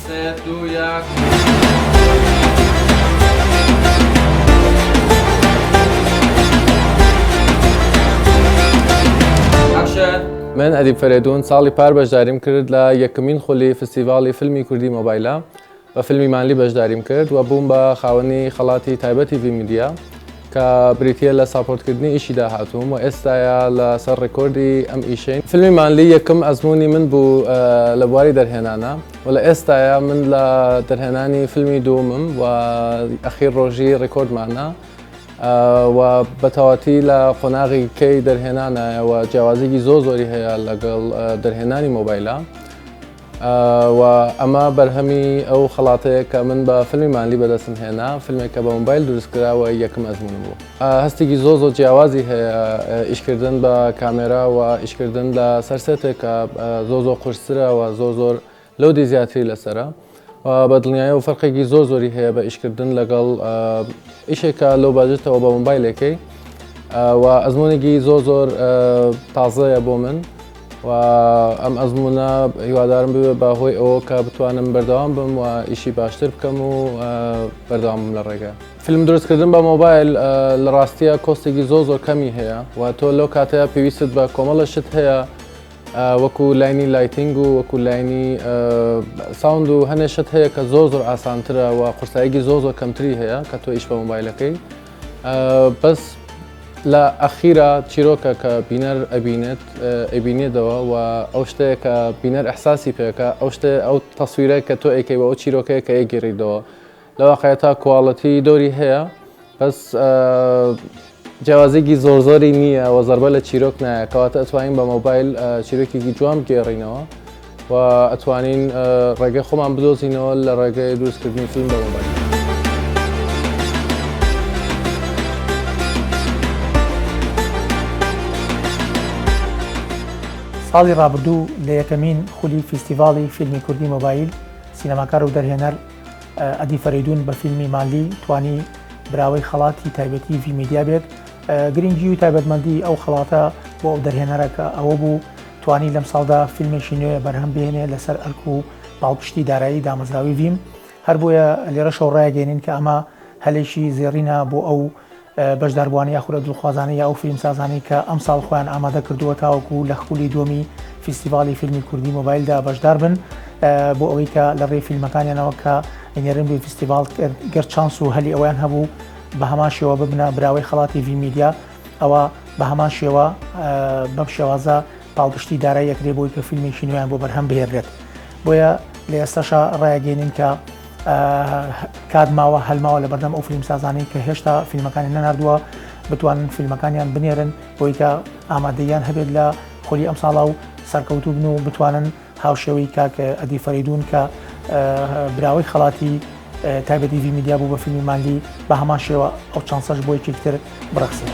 سێ دوو یەک من ئەدیب فەرێدون ساڵی پار بەشداریم کرد لە یەکمین خولی فستیڤاڵی فیلمی کوردی مۆبایلە بە فیلمی مالی بەشداریم کرد و بووم بە خاوەنی خەڵاتی تایبەتی ڤیمیدیا کە بریتیە لە ساپۆرتکردنی ئیشی داهاتووم و ئێستایا لە سەر ڕێکۆردی ئەم ئیشەین فیلمی مانلی یەکەم ئەزمموی من بوو لە بواری دەرهێنانە و لە ئێستایا من لە دەرهێنانی فیلمی دومم و ئەخیر ڕۆژی ڕێکۆردمانە و بەتەواتی لە قۆناغی کەی دەرهێنانایەوە جیاوازێکی زۆ زۆری هەیە لەگەڵ دەرهێنانی مۆبایلە. و ئەمە بەرهەمی ئەو خەڵاتەیە کە من بە فیلمی مانلی بەدەستم هێنا فیلمێک کە بە مۆبایل دروستکراوە یەکم ئەزمونم بوو هەستێکی زۆ زۆ جیاوازی هەیە ئیشکردن بە کامێرا و ئیشکردن لە سەرسێتێک کە زۆ زۆ قورستراوە زۆ زۆر لەو دی زیاتری لەسرە بە دڵنیایە و فەرقێکی زۆ زۆری هەیە بە ئیشکردن لەگەڵ ئیشێکە لەو باجێتەوە بە مۆبایلەکەی و ئەزمونێکی زۆ زۆر تازەیە بۆ من و ئەم ئەزمونە هیوادارم ببێت بە هۆی ئەوە کە بتوانم بەردەوام بم و ئیشی باشتر بکەم و بەردەوام بم لە ڕێگە فیلم دروستکردن بە مۆبایل لە ڕاستیە کۆستێکی زۆ زۆر کەمی هەیە و تۆ لەو کاتەیە پێویستت بە کۆمەڵە شت هەیە وەکو لاینی لایتنگ و وەکو لاینی ساوند و هەنێ شت هەیە کە زۆ زۆر ئاسانترە و قورساییگی زۆ زۆر کەمتری هەیە کە تۆ ئیش بە مۆبایلەکەی بەس لە ئەخیرا چیرۆکە کە بینەر ئەبینێت ئەبینێتەوە و ئەو شتەیە کە بینەر ئەحساسی پێکە ئەو شتە ئەو تەسویرە کە تۆ ئەیکەی بە ئەو چیرۆکەیە کە ئەگیریدەوە لە واقعە تا کوواڵەتی دۆری هەیە بەس جیاوازێکی زۆر زۆری نییە و زربە لە چیرۆک نایە کەواتە ئەتوانین بە مۆبایل چیرۆکێکی جوان گێڕینەوە و ئەتوانین ڕێگەی خۆمان بدۆزینەوە لە ڕێگەی دروستکردنی فیلم بە مۆبایل. ساڵی ڕابردوو لە یەکەمین خولی فیستیڤاڵی فیلمی کوردی مۆبایل سینەماکار و دەرهێنەر ئەدی فەریدون بە فیلمی مالی توانی براوەی خەڵاتی تایبەتی ڤیمیدیا بێت گرنگی و تایبەتمەندی ئەو خەڵاتە بۆ ئەو دەرهێنەرەکە ئەوە بوو توانی لەمساڵدا فیلمێکی نوێ بەرهەم بێنێ لەسەر ئەرک و پاڵپشتی دارایی دامەزراوی ڤیم هەر بۆیە لێرەشەو ڕایگەێنین کە ئەمە هەلێکی زێڕینە بۆ ئەو بەشداربووانی یاخورە دڵخوازانە یا ئەو فیلمسازانی کە ئەم ساڵ خۆیان ئامادە کردووە تاوەکو لە خولی دومی فیستیڤالی فیلمی کوردی مۆبایلدا بەشدار بن بۆ ئەوەی کە لە ڕێ فیلمەکانیانەوە کە ئینێرن بێ فیستیڤال گەر چانس و هەلی ئەویان هەبوو بە هەماشەوە ببنە براوەی خڵاتی ڤیمیدیا ئەوا بە هەمان شێوە بەم شێوازە پاڵپشتی دارای یەکرێ بۆی کە فیلمێکی نوێیان بۆ بەرهەم بهێنرێت بۆیە لە ئێستاشا ڕایگەێنین کە کات ماوە هەلماوە لە بەردەم ئەو فیلم سازانەی کە هێشتا فیلمەکانی نەناردووە بتوانن فیلمەکانیان بنێرن بۆی کە ئامادەیان هەبێت لە خۆلی ئەم ساڵا و سەرکەوتوبن و بتوانن هاوشێوەی کاک ئەدی فەرەیدوون کە براوەی خەڵاتی تایبەتی ڤی میدیا بوو بە فیلمی مانگی بە هەمان شێوە ئەو چانسەش بۆ یەکێکتر بڕەخسێت.